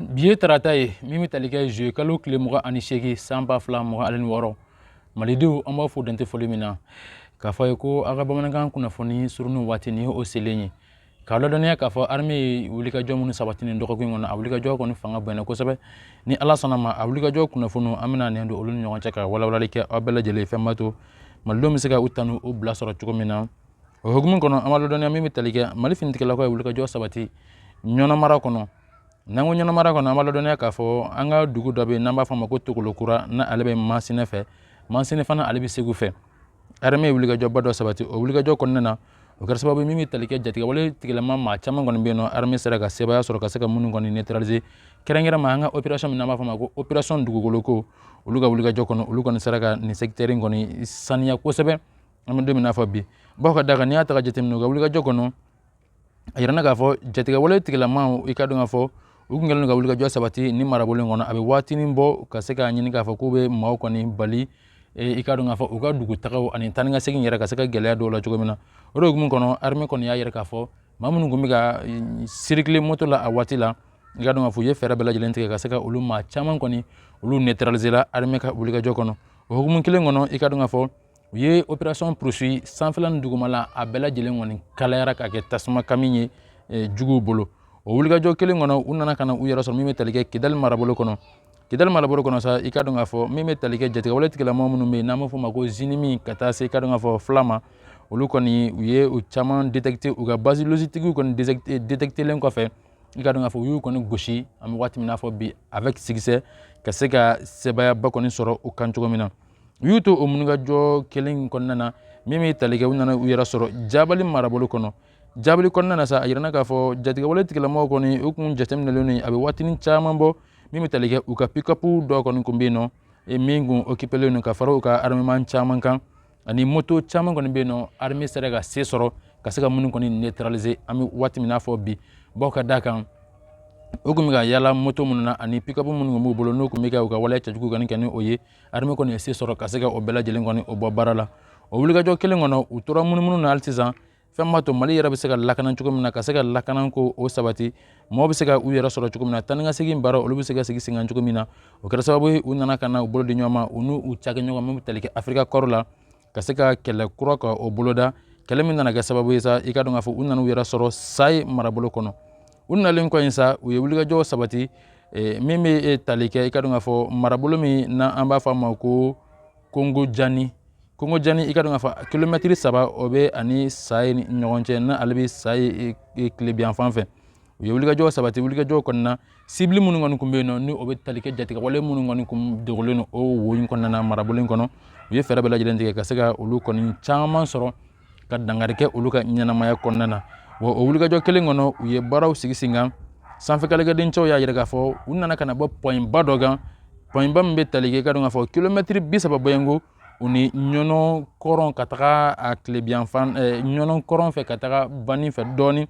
bi ye tarata ye min bɛ tali kɛ zuye kalo tile mugan ani seegin san ba fila mugan ani wɔɔrɔ malidenw an b'a fɔ dantɛ foli min na k'a fɔ aw ye ko aw ka bamanankan kunnafoni surunnin waati nin o selen ye k'a ladɔnniya k'a fɔ arme ye wulikajɔ minnu sabati nin dɔgɔkun kɔnɔ a wulikajɔ kɔni fanga bonyana kosɛbɛ ni ala sɔnna ma a wulikajɔ kunnafoniw an bɛna nɛn don olu ni ɲɔgɔn cɛ ka walawalali kɛ aw bɛɛ lajɛlen fɛn b'a to malidenw bɛ se ka u tanu u bila sɔrɔ cogo min na o hukumu kɔnɔ an b'a ladɔnniya min bɛ tali kɛ mali finitigilakaw ye wulikajɔ sabati ɲɔnɔ mara kɔnɔ n'an ko ɲɔnɔ mara kɔnɔ an b'a ladɔnniya k'a fɔ an ka dugu dɔ bɛ yen n'an b'a fɔ a ma ko tokolo kura n'ale bɛ masina fɛ masina fana ale bɛ segu fɛ armée ye wulikajɔba dɔ sabati o wulikajɔ kɔnɔna na o kɛra sababu ye min bɛ tali kɛ jatigɛwale tigilama maa caman kɔni bɛ yen nɔ armée sera ka sebaaya sɔrɔ ka se ka minnu kɔni neutraliser kɛrɛnkɛrɛnma an ka opération min n'an b'a fɔ a ma ko opération dugukoloko olu ka wulikajɔ kɔnɔ olu kɔni sera ka nin secteur in kɔni saniya kosɛbɛ an bɛ don min na fɔ bi bawo ka d'a kan n'i y'a ta ka jateminɛ u ka wulikajɔ kɔnɔ a yirana k'a fɔ jatigɛwale tigilamaw i k'a dɔn k'a fɔ u tun kɛlen don ka wulikajɔ sabati nin marabolo in kɔnɔ a bɛ waatinin bɔ ka se k'a ɲini k'a fɔ k'u bɛ maaw kɔni bali i k'a dɔn k'a fɔ u ka dugutagaw ani taa ni ka segin yɛrɛ ka se ka gɛlɛya don u la cogo min na o de hukumu kɔnɔ arime kɔni y'a yira k'a fɔ maa minnu tun bɛ ka sirikile moto la a waati la i k'a dɔn k'a fɔ u ye fɛɛrɛ bɛɛ lajɛlen tigɛ ka se ka olu maa caman kɔni olu neutralisera arime ka wulikajɔ kɔnɔ o hukumu kelen kɔnɔ i k'a dɔn k'a fɔ u ye operasɔn purusi sanfɛla ni dugumala a bɛɛ lajɛlen kɔni kalayara ka kɛ tasuma kami ye eh, juguw bolo o wulikajɔ kelen kɔnɔ u nana ka na u yɛrɛ sɔrɔ min bɛ tali kɛ kidali marabolo kɔnɔ kidali marabolo kɔnɔ sa i k'a dɔn k'a fɔ min bɛ tali kɛ jatigɛwale tigilamɔgɔ minnu bɛ yen n'an b'a fɔ o ma ko zinimi ka taa se i k'a dɔn k'a fɔ fila ma olu kɔni u ye u caman détecté u ka base logistique kɔni détectelen kɔfɛ i k'a dɔn k'a fɔ u y'u kɔni gosi an bɛ waati min n'a fɔ bi avec succès ka se ka sebaayaba kɔni sɔrɔ u kan cogo min na u y'u to o wulikajɔ kelen in kɔnɔna na min bɛ tali kɛ u nana u yɛrɛ sɔrɔ jabali marabolo kɔnɔ jabali kɔnɔna na sa a yirana k'a fɔ jatigɛwale tigilamɔgɔw kɔni u kun jateminɛlen don a bɛ waatinin caman bɔ min bɛ tali kɛ u ka pikapu dɔ kɔni kun bɛ yen nɔ e min kun ekipelen don ka fara u ka armeman caman kan ani moto caman kɔni bɛ yen nɔ arme sera ka se sɔrɔ ka se ka minnu kɔni neutraliser an bɛ waati min n'a fɔ bi bawo ka d'a kan u tun bɛ ka yaala moto minnu na ani pikapu minnu tun b'u bolo n'u tun bɛ ka u ka waleya cɛjugu kɔni kɛ ni o ye armée kɔni ye se sɔrɔ ka se ka o bɛɛ lajɛlen kɔni o bɔ baara la o wulikajɔ kelen kɔnɔ u tora munumunu na hali sisan fɛn b'a to mali yɛrɛ bɛ se ka lakana cogo min na ka se ka lakana ko o sabati mɔgɔ bɛ se ka u yɛrɛ sɔrɔ cogo min na taa ni ka segin baara olu bɛ se ka sigi senkan cogo min na o kɛra sababu ye u nana ka na u bolo di ɲɔgɔn ma u n'u cakɛ ɲɔgɔn min bɛ tali kɛ africa corps la ka se ka kɛlɛ kura ka o boloda kɛlɛ min nana kɛ sababu ye sa i k'a dɔn k'a fɔ u nana u yɛrɛ sɔrɔ sayi marabolo kɔnɔ u nalen kɔ in sa u ye wulikajɔ sabati e, min bɛ e, tali kɛ i k'a dɔn k'a fɔ marabolo min n'an b'a fɔ a ma ko kongo jani kongo jani i k'a dɔn k'a fɔ kilomɛtiri saba o bɛ a ni sayi ni ɲɔgɔn cɛ n'ale bɛ sayi e, tilebinyanfan fɛ u ye wulikajɔ sabati wulikajɔ kɔnɔna sibili minnu kɔni tun bɛ yen nɔ ni o bɛ tali kɛ jatigɛwale minnu kɔni tun dogolen don o wo in kɔnɔna na marabolo in kɔnɔ u ye fɛɛrɛ bɛɛ lajɛlen tigɛ ka se ka olu kɔni caman sɔrɔ ka dankari kɛ olu ka ɲɛnamaya kɔnɔna na wa o wulikajɔ kelen kɔnɔ u ye baaraw sigi sen kan sanfɛkɛlɛkɛdencɛw y'a yira k'a fɔ u nana ka na bɔ pɔyinba dɔ kan pɔyinba min bɛ tali kɛ ka dɔn k'a fɔ kilomɛtiri bi saba bɔɲɔgɔnko u ni ɲɔnɔn kɔrɔn ka taga a tilebiyanfan ɲɔnɔn kɔrɔn fɛ ka taga banni fɛ dɔɔnin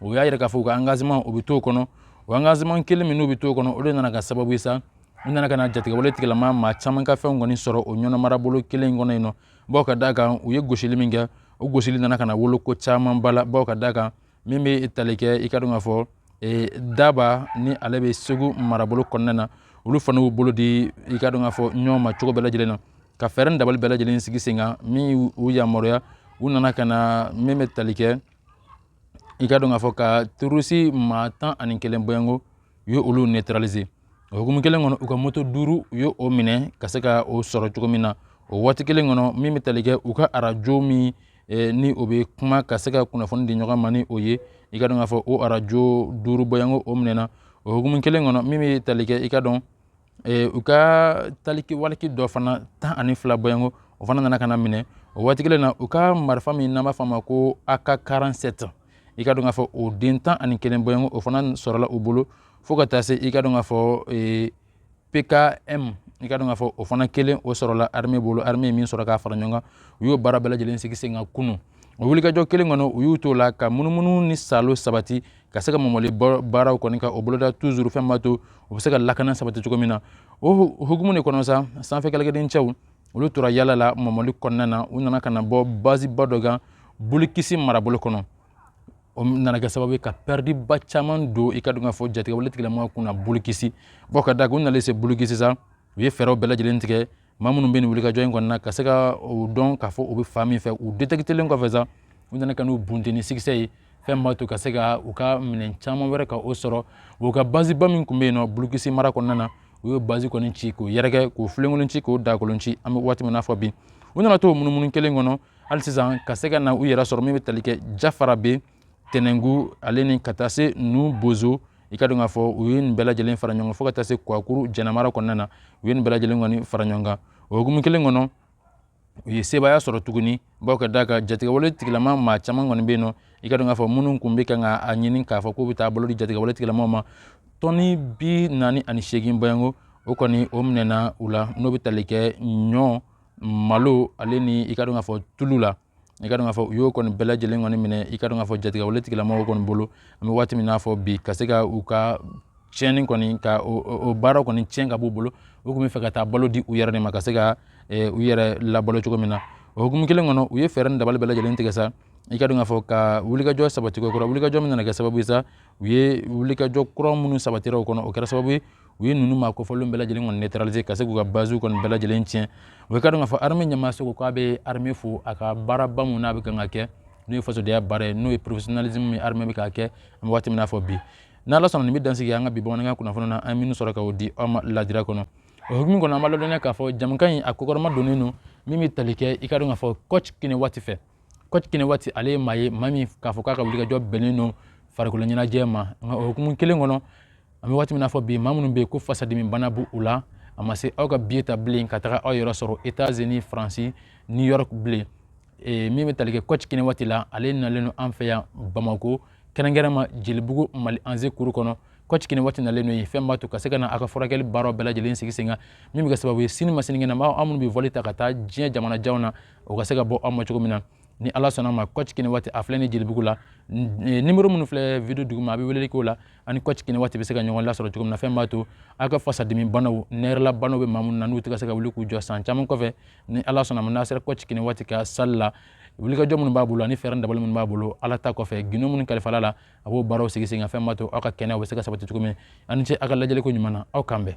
o y'a yira k'a fɔ u ka angaziman u bɛ t'o kɔnɔ o angaziman kelen min n'u bɛ t'o kɔnɔ o de nana kɛ sababu ye sa u nana ka na jatigɛwale tigilama maa caman ka fɛnw kɔni sɔrɔ o ɲɔnɔn marabolo kelen in kɔnɔ yen nɔ bawo ka d'a kan u ye gosili min kɛ o gosili nana ka na wolo ko caman ba la bawo ka d'a kan min bɛ tali kɛ i ka dɔn k'a fɔ e, daba ni ale bɛ segu marabolo kɔnɔna na olu fana y'u bolo di i ka dɔn k'a fɔ ɲɔgɔn ma cogo bɛɛ lajɛlen na ka fɛɛrɛ ni dabali bɛɛ lajɛlen sigi sen kan min y'u yamaruya u nana ka na min bɛ tali kɛ i ka dɔn k'a fɔ ka terorisi maa tan ani kelen bɔɲɔgɔnko u ye olu neutraliser o hukumu kelen kɔnɔ u ka moto duuru u ye o minɛ ka se ka o sɔrɔ cogo min na o waati kelen kɔnɔ min bɛ tali kɛ u ka arajo min eh, ni o bɛ kuma ka se ka kunnafoni di ɲɔgɔn ma ni o ye i ka dɔn k'a fɔ o arajo duuru bɔɲɔgɔnko o minɛna o hukumu kelen kɔnɔ min bɛ tali kɛ i ka dɔn Ee u ka taliki waliki dɔ fana tan ani fila bɔɲɔgɔnko o fana nana ka na minɛ o waati kelen na u ka marifa min n'an b'a fɔ a ma ko aka karansɛti i ka dɔn k'a fɔ o den tan ani kelen bɔɲɔgɔnko o fana sɔrɔla u bolo fo ka taa se i ka dɔn k'a fɔ pkm i ka dɔn k'a fɔ o fana kelen o sɔrɔla arme bolo arme min sɔrɔ k'a fara ɲɔgɔn kan u y'o baara bɛɛ lajɛlen sigi sen kan kunun o wulikajɔ kelen kɔnɔ u y'u to la ka munumunu ni saalo sabati ka se ka mɔmɔli baaraw kɔni ka o boloda tuzuru fɛn b'a to u bɛ se ka lakana sabati cogo min na o hukumu de kɔnɔ sa sanfɛ kɛlɛkɛdencɛw olu tora yaala la mɔmɔli kɔnɔna na u nana ka na bɔ baziba dɔ kan bulukisi marabolo kɔnɔ o nana kɛ sababu ye ka pɛridiba caman don i ka dɔn k'a fɔ jatigɛwale tigilamɔgɔ kunna bulukisi bawo ka da u nalen se bulukisi sa u ye fɛɛrɛw bɛɛ lajɛlen tigɛ maa minnu bɛ nin wulikajɔ in kɔnɔna ka se ka o dɔn k'a fɔ u bɛ fan min fɛ u detekitelen kɔfɛ sa u nana ka n'u bunten ni sikisɛ ye fɛn b'a to ka se ka u ka minɛn caman wɛrɛ ka o sɔrɔ u ka baziba min tun bɛ yen nɔ bulukisi mara kɔnɔna na u ye bazi kɔni ci k'o yɛrɛkɛ k'o filenkolon ci k'o dakolon ci an bɛ waati min na fo bi u nana to munumunu kelen kɔnɔ hali sisan ka se ka na u yɛrɛ sɔrɔ min bɛ tali kɛ jafarabɛ tɛnɛnku ale ni ka taa se nu bozo i ka dɔn k'a fɔ u ye nin bɛɛ lajɛlen fara ɲɔgɔn fo ka taa se kuakuru jɛnɛ mara kɔnɔna na u ye nin bɛɛ lajɛlen kɔni fara ɲɔgɔn kan o hukumu kelen kɔnɔ u ye sebaaya sɔrɔ tuguni bawo ka d'a kan jatigɛwale tigilama maa caman kɔni bɛ yen nɔ i ka dɔn k'a fɔ minnu kun bɛ kan ka a ɲini k'a fɔ k'u bɛ taa bolo di jatigɛwale tigilamaw ma tɔni bi naani ani seegin bɔɲɔgɔnko o kɔni o minɛna u la n'o bɛ tali kɛ ɲɔ malo ale ni i ka dɔn k'a fɔ tulu la i ka dɔn k'a fɔ u y'o kɔni bɛɛ lajɛlen kɔni minɛ i ka dɔn k'a fɔ jatigɛwale tigilamɔgɔw kɔni bolo an bɛ waati min n'a fɔ bi ka se ka u ka tiɲɛni kɔni ka o baara kɔni tiɲɛ ka b'u bolo u tun bɛ fɛ ka taa balo di u yɛrɛ de ma ka se ka eh, u yɛrɛ labalo cogo min na o hukumu kelen kɔnɔ u ye fɛɛrɛ ni dabali bɛɛ lajɛlen tigɛ sa i ka dɔn k'a fɔ ka wulikajɔ sabati ko kura wulikajɔ min nana kɛ sababu ye sa u ye wulikajɔ kura minnu sabatira o kɔnɔ o kɛra sababu ye u ye ninnu maa kofɔlen bɛɛ lajɛlen kɔni neutraliser ka se k'u ka baziw kɔni bɛɛ lajɛlen tiɲɛ i ka dɔn k'a fɔ armée ɲɛmaaso ko k'a bɛ armée fo a ka baaraba min n'a bɛ kan ka kɛ n'o ye fasodenya baara ye n'o ye professionnalisme min armée bɛ k'a kɛ an bɛ waati min n'a fɔ bi n'ala sɔnna nin bɛ dansigi an ka bi bamanankan kunnafoni na an ye minnu sɔrɔ ka o di aw ma ladiriya kɔnɔ o hukumu kɔnɔ an b'a ladɔnniya k'a fɔ jɛmukan in a kɔkɔrɔmadonnen don min bɛ tali kɛ i ka dɔn k'a fɔ coach kɛnɛ waati fɛ coach kɛnɛ waati ale ye maa ye maa min k'a fɔ k'a ka wulikajɔ bɛnnen don farikolo ɲɛnajɛ ma nka o hukumu kelen kɔnɔ an bɛ waati min na fɔ bi maa minnu bɛ yen ko fasadimi bana b'u la a ma se aw ka biye ta bilen ka taga aw yɛrɛ sɔrɔ etazini faransi new york bilen e, min bɛ tali kɛ coach kɛnɛ waati la ale nalen don an fɛ yan bamako kɛrɛnkɛrɛnma jelibugu mali anze kuru kɔnɔ coach kɛnɛ waati nalen don yen fɛn b'a to ka se ka na a ka furakɛli baaraw bɛɛ lajɛlen sigi sen kan min bɛ kɛ sababu ye sini ma sinikɛnɛ ma aw minnu bɛ vɔli ta ka taa diɲɛ jamanajanw na o ka se ka bɔ aw ma cogo min na ni ala sɔnna ma coach kɛnɛ waati a filɛ ni jelibugu la e, nimero minnu filɛ video duguma a bɛ weleli k'o la aw ni coach kɛnɛ waati bɛ se ka ɲɔgɔn lasɔrɔ cogo min na fɛn b'a to aw ka fasadimi banaw nɛri la banaw bɛ maa minnu na n'u tɛ ka se ka wuli k'u jɔ san caman kɔfɛ ni ala sɔnna ma n'a sera coach kɛnɛ waati ka salle la wulikajɔ minnu b'a bolo ani fɛɛrɛ dabali minnu b'a bolo ala ta kɔfɛ gindo minnu kalifala la a b'o baaraw sigi sen kan fɛn b'a to aw ka kɛnɛya bɛ se ka sabati cogo min aw ni ce aw ka lajɛliko ɲuman na aw k'an bɛn